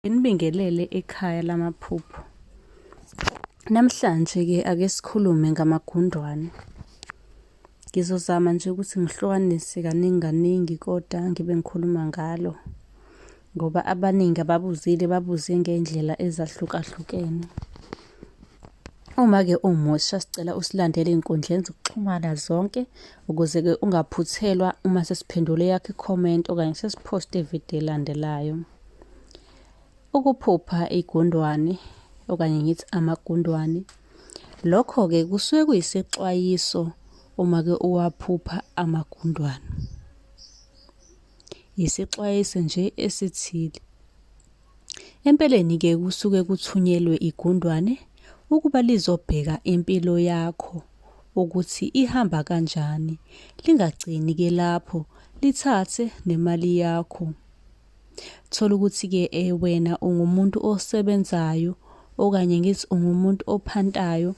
Nginibingelele ekhaya lamaphupho. Namhlanje-ke ake sikhulume ngamagundwane. Ngizozama nje ukuthi ngihlukanise kaningi kaningi koda ngibe ngikhuluma ngalo ngoba abaningi ababuzile babuze ngey'ndlela ezahlukahlukene. Uma-ke umusha sicela usilandele ey'nkundleni zokuxhumana zonke ukuze-ke ungaphuthelwa uma sesiphendule eyakho i-comment okanye sesiphoste ividiyo elandelayo. Ukuphupha igundwane okanye ngithi amagundwane lokho-ke kusuke kuyisexwayiso uma-ke uwaphupha amagundwane. Yisexwayiso nje esithile. Empeleni-ke kusuke kuthunyelwe igundwane ukuba lizobheka impilo yakho ukuthi ihamba kanjani, lingagcini-ke lapho lithathe nemali yakho. Thola ukuthi-ke eh, wena ungumuntu osebenzayo okanye ngithi ungumuntu ophantayo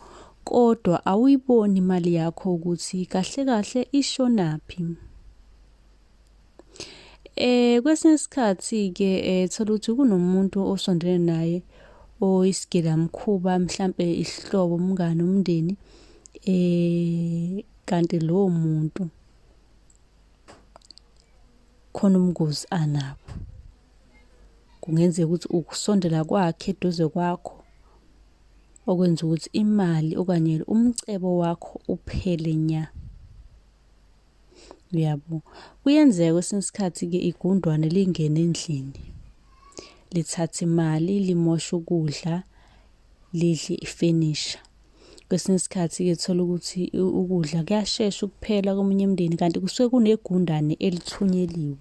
kodwa awuyiboni imali yakho ukuthi kahle kahle ishonaphi. Eh kwesinye isikhathi-ke eh, thola ukuthi kunomuntu osondelene naye oyisigilamkhuba mhlampe isihlobo, umngani, umndeni eh kanti lowo muntu khona ubungozi anabo. Kungenzeka ukuthi ukusondela kwakhe eduze kwakho okwenza ukuthi imali okanye umcebo wakho uphele nya. Uyabo? Kuyenzeka kwesinye isikhathi-ke igundwane lingene endlini, lithathe imali, limoshe ukudla, lidle ifenisha. Kwesinye isikhathi-ke thola ukuthi ukudla kuyashesha ukuphela komunye umndeni kanti kusuke kunegundane elithunyeliwe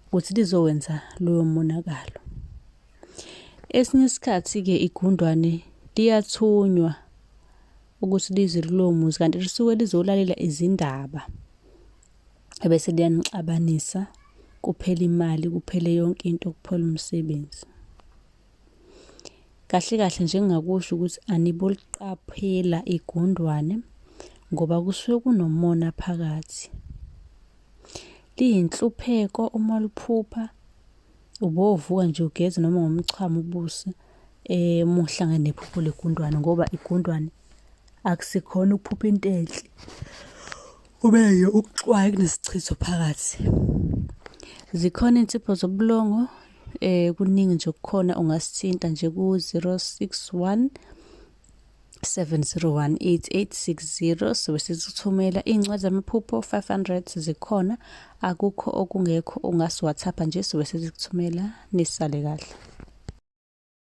ukuthi lizowenza loyo monakalo. Esinye isikhathi-ke igundwane liyathunywa ukuthi lize kulowo muzi kanti lisuke lizolalela izindaba ebese liyanixabanisa kuphele imali kuphele yonke into kuphele umsebenzi. Kahle kahle nje engingakusho ukuthi aniboliqaphela igundwane ngoba kusuke kunomona phakathi. Liyinhlupheko uma liphupha ubovuka nje ugeze noma ngomchamo ubusi eh uma uhlangene nephupho legundwane ngoba igundwane akusikhona ukuphupha into enhle. Kube nje ukuxwaya kunesichitho phakathi. Zikhona insipho zobulongo eh kuningi nje kukhona ungasithinta nje ku 061 7018860 sobe sizithumela iy'ncwadi zamaphupho 500 zikhona akukho okungekho ungasi-whatsapp nje sobe sizikuthumela nisale kahle